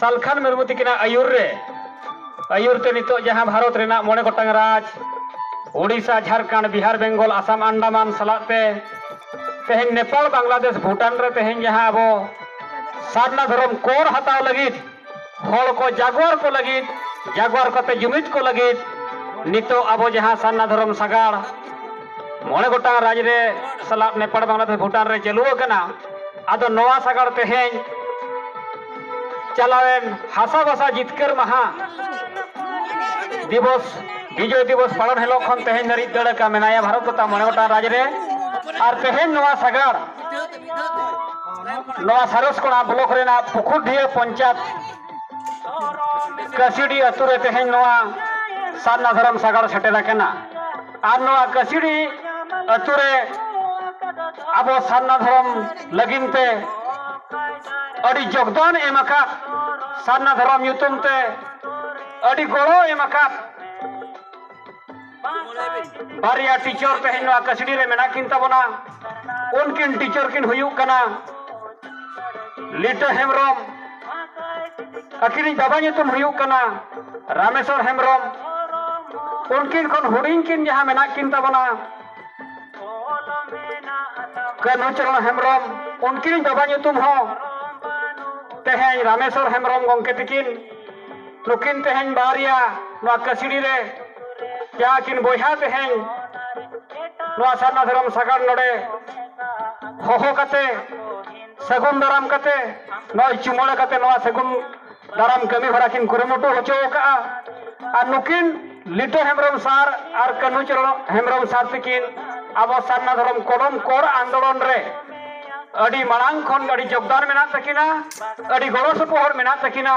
ᱥᱟᱞᱠᱷᱟᱱ ᱢᱩᱨᱢᱩ ᱛᱤᱠᱤᱱᱟᱜ ᱟᱹᱭᱩᱨ ᱨᱮ ᱟᱹᱭᱩᱨ ᱛᱮ ᱱᱤᱛᱚᱜ ᱡᱟᱦᱟᱸ ᱵᱷᱟᱨᱚᱛ ᱨᱮᱱᱟᱜ ᱢᱚᱬᱮ ᱜᱚᱴᱟᱝ ᱨᱟᱡᱽ ᱳᱰᱤᱥᱟ ᱡᱷᱟᱲᱠᱷᱚᱸᱰ ᱵᱤᱦᱟᱨ ᱵᱮᱝᱜᱚᱞ ᱟᱥᱟᱢ ᱟᱱᱰᱟᱢᱟᱱ ᱥᱟᱞᱟᱜ ᱛᱮ ᱛᱮᱦᱮᱧ ᱱᱮᱯᱟᱞ ᱵᱟᱝᱞᱟᱫᱮᱥ ᱵᱷᱩᱴᱟᱱ ᱨᱮ ᱛᱮᱦᱮᱧ ᱡᱟᱦᱟᱸ ᱟᱵᱚ ᱥᱟᱨᱱᱟ ᱫᱷᱚᱨᱚᱢ ᱠᱚᱨ ᱦᱟᱛᱟᱣ ᱞᱟᱹᱜᱤᱫ ᱦᱚᱲ ᱠᱚ ᱡᱟᱜᱣᱟᱨ ᱠᱚ ᱞᱟᱹᱜᱤᱫ ᱡᱟᱜᱣᱟᱨ ᱠᱟᱛᱮ ᱡᱩᱢᱤᱫ ᱠᱚ ᱞᱟᱹᱜᱤᱫ ᱱᱤᱛᱚᱜ ᱟᱵᱚ ᱡᱟᱦᱟᱸ ᱥᱟᱨᱱᱟ ᱫᱷᱚᱨᱚᱢ ᱥᱟᱜᱟᱲ ᱢᱚᱬᱮ ᱜᱚᱴᱟᱝ ᱨᱟᱡᱽ ᱨᱮ ᱥᱟᱞᱟᱜ ᱱᱮᱯᱟᱞ ᱵᱟᱝᱞᱟᱫᱮᱥ ᱵᱷᱩᱴᱟᱱ ᱨᱮ ᱪᱟᱹᱞᱩ ᱟᱠᱟᱱᱟ ᱟᱫᱚ ᱱᱚᱣᱟ ᱥᱟᱜᱟᱲ ᱛᱮᱦᱮᱧ ᱪᱟᱞᱟᱣᱮᱱ ᱦᱟᱥᱟ ᱵᱷᱟᱥᱟ ᱡᱤᱛᱠᱟᱹᱨ ᱢᱟᱦᱟ ᱫᱤᱵᱚᱥ ᱵᱤᱡᱚᱭ ᱫᱤᱵᱚᱥ ᱯᱟᱞᱚᱱ ᱦᱤᱞᱳᱜ ᱠᱷᱚᱱ ᱛᱮᱦᱮᱧ ᱫᱷᱟᱹᱨᱤᱡ ᱫᱟᱹᱲ ᱟᱠᱟᱱ ᱢᱮᱱᱟᱭᱟ ᱵᱷᱟᱨᱚᱛ ᱛᱚᱛᱷᱟ ᱢᱚᱬᱮ ᱜᱚᱴᱟᱝ ᱨᱟᱡᱽ ᱨᱮ ᱟᱨ ᱛᱮᱦᱮᱧ ᱱᱚᱣᱟ ᱥᱟᱜᱟᱲ ᱱᱚᱣᱟ ᱥᱟᱨᱚᱥ ᱠᱚᱲᱟ ᱵᱞᱚᱠ ᱨᱮᱱᱟᱜ ᱯᱩᱠᱷᱩᱨᱰᱤᱭᱟᱹ ᱯᱚᱧᱪᱟᱭᱮᱛ ᱠᱟᱹᱥᱤᱰᱤ ᱟᱹᱛᱩ ᱨᱮ ᱛᱮᱦᱮᱧ ᱱᱚᱣᱟ ᱥᱟᱨᱱᱟ ᱫᱷᱚᱨᱚᱢ ᱥᱟᱜᱟᱲ ᱥᱮᱴᱮᱨ ᱟᱠᱟᱱᱟ ᱟᱨ ᱱᱚᱣᱟ ᱠᱟᱹᱥᱤᱲᱤ ᱟᱹᱛᱩ ᱨᱮ ᱟᱵᱚ ᱥᱟᱨᱱᱟ ᱫᱷᱚᱨᱚᱢ ᱞᱟᱹᱜᱤᱫ ᱛᱮ ᱟᱹᱰᱤ ᱡᱳᱜᱽᱫᱟᱱ ᱮᱢ ᱟᱠᱟᱫ ᱥᱟᱨᱱᱟ ᱫᱷᱚᱨᱚᱢ ᱧᱩᱛᱩᱢ ᱛᱮ ᱟᱹᱰᱤ ᱜᱚᱲᱚ ᱮᱢ ᱟᱠᱟᱫ ᱵᱟᱨᱭᱟ ᱴᱤᱪᱚᱨ ᱛᱮᱦᱮᱧ ᱱᱚᱣᱟ ᱠᱟᱹᱥᱤᱲᱤ ᱨᱮ ᱢᱮᱱᱟᱜ ᱠᱤᱱ ᱛᱟᱵᱚᱱᱟ ᱩᱱᱠᱤᱱ ᱴᱤᱪᱟᱨ ᱠᱤᱱ ᱦᱩᱭᱩᱜ ᱠᱟᱱᱟ ᱞᱤᱴᱟᱹ ᱦᱮᱢᱵᱨᱚᱢ ᱟᱹᱠᱤᱱᱤᱡ ᱵᱟᱵᱟ ᱧᱩᱛᱩᱢ ᱦᱩᱭᱩᱜ ᱠᱟᱱᱟ ᱨᱟᱢᱮᱥᱚᱨ ᱦᱮᱢᱵᱨᱚᱢ ᱩᱱᱠᱤᱱ ᱠᱷᱚᱱ ᱦᱩᱰᱤᱧ ᱠᱤᱱ ᱡᱟᱦᱟᱸ ᱢᱮᱱᱟᱜ ᱠᱤᱱ ᱛᱟᱵᱚᱱᱟ ᱠᱟᱹᱱᱦᱩ ᱪᱚᱨᱚᱱ ᱦᱮᱢᱵᱨᱚᱢ ᱩᱱᱠᱤᱱᱤᱡ ᱵᱟᱵᱟ ᱧᱩᱛᱩᱢ ᱦᱚᱸ ᱛᱮᱦᱮᱧ ᱨᱟᱢᱮᱥᱚᱨ ᱦᱮᱢᱵᱨᱚᱢ ᱜᱚᱢᱠᱮ ᱛᱤᱠᱤᱱ ᱱᱩᱠᱤᱱ ᱛᱮᱦᱮᱧ ᱵᱟᱨᱭᱟ ᱱᱚᱣᱟ ᱠᱟᱹᱥᱤᱰᱤ ᱨᱮ ᱡᱟᱦᱟᱸ ᱠᱤᱱ ᱵᱚᱭᱦᱟ ᱛᱮᱦᱮᱧ ᱱᱚᱣᱟ ᱥᱟᱨᱱᱟ ᱫᱷᱚᱨᱚᱢ ᱥᱟᱜᱟᱲ ᱱᱚᱰᱮ ᱦᱚᱦᱚ ᱠᱟᱛᱮ ᱥᱟᱹᱜᱩᱱ ᱫᱟᱨᱟᱢ ᱠᱟᱛᱮ ᱱᱚᱜᱼᱚᱭ ᱪᱩᱢᱟᱹᱲᱟ ᱠᱟᱛᱮ ᱱᱚᱣᱟ ᱥᱟᱹᱜᱩᱱ ᱫᱟᱨᱟᱢ ᱠᱟᱹᱢᱤ ᱦᱚᱨᱟ ᱠᱤᱱ ᱠᱩᱨᱩᱢᱩᱴᱩ ᱦᱚᱪᱚ ᱟᱠᱟᱫᱼᱟ ᱟᱨ ᱱᱩᱠᱤᱱ ᱞᱤᱴᱟᱹ ᱦᱮᱢᱵᱨᱚᱢ ᱥᱟᱨ ᱟᱨ ᱠᱟᱹᱱᱦᱩ ᱪᱚᱨᱚᱱ ᱦᱮᱢᱵᱨᱚᱢ ᱥᱟᱨ ᱛᱤᱠᱤᱱ ᱟᱵᱚ ᱥᱟᱨᱱᱟ ᱫᱷᱚᱨᱚᱢ ᱠᱚᱞᱚᱢ ᱠᱚᱲ ᱟᱱᱫᱳᱲᱚᱱ ᱨᱮ ᱟᱹᱰᱤ ᱢᱟᱲᱟᱝ ᱠᱷᱚᱱ ᱟᱹᱰᱤ ᱡᱳᱜᱽᱫᱟᱱ ᱢᱮᱱᱟᱜ ᱛᱟᱹᱠᱤᱱᱟ ᱟᱹᱰᱤ ᱜᱚᱲᱚ ᱥᱚᱯᱚᱦᱚᱫ ᱢᱮᱱᱟᱜ ᱛᱟᱹᱠᱤᱱᱟ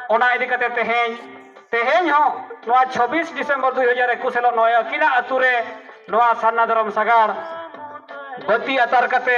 ᱚᱱᱟ ᱤᱫᱤ ᱠᱟᱛᱮ ᱛᱮᱦᱮᱧ ᱛᱮᱦᱮᱧ ᱦᱚᱸ ᱱᱚᱣᱟ 26 ᱰᱤᱥᱮᱢᱵᱚᱨ 2021 ᱦᱤᱞᱳᱜ ᱱᱚᱜᱼᱚᱭ ᱟᱹᱠᱤᱱᱟᱜ ᱟᱹᱛᱩ ᱨᱮ ᱱᱚᱣᱟ ᱥᱟᱨᱱᱟ ᱫᱷᱚᱨᱚᱢ ᱥᱟᱜᱟᱲ ᱵᱟᱹᱛᱤ ᱟᱛᱟᱨ ᱠᱟᱛᱮ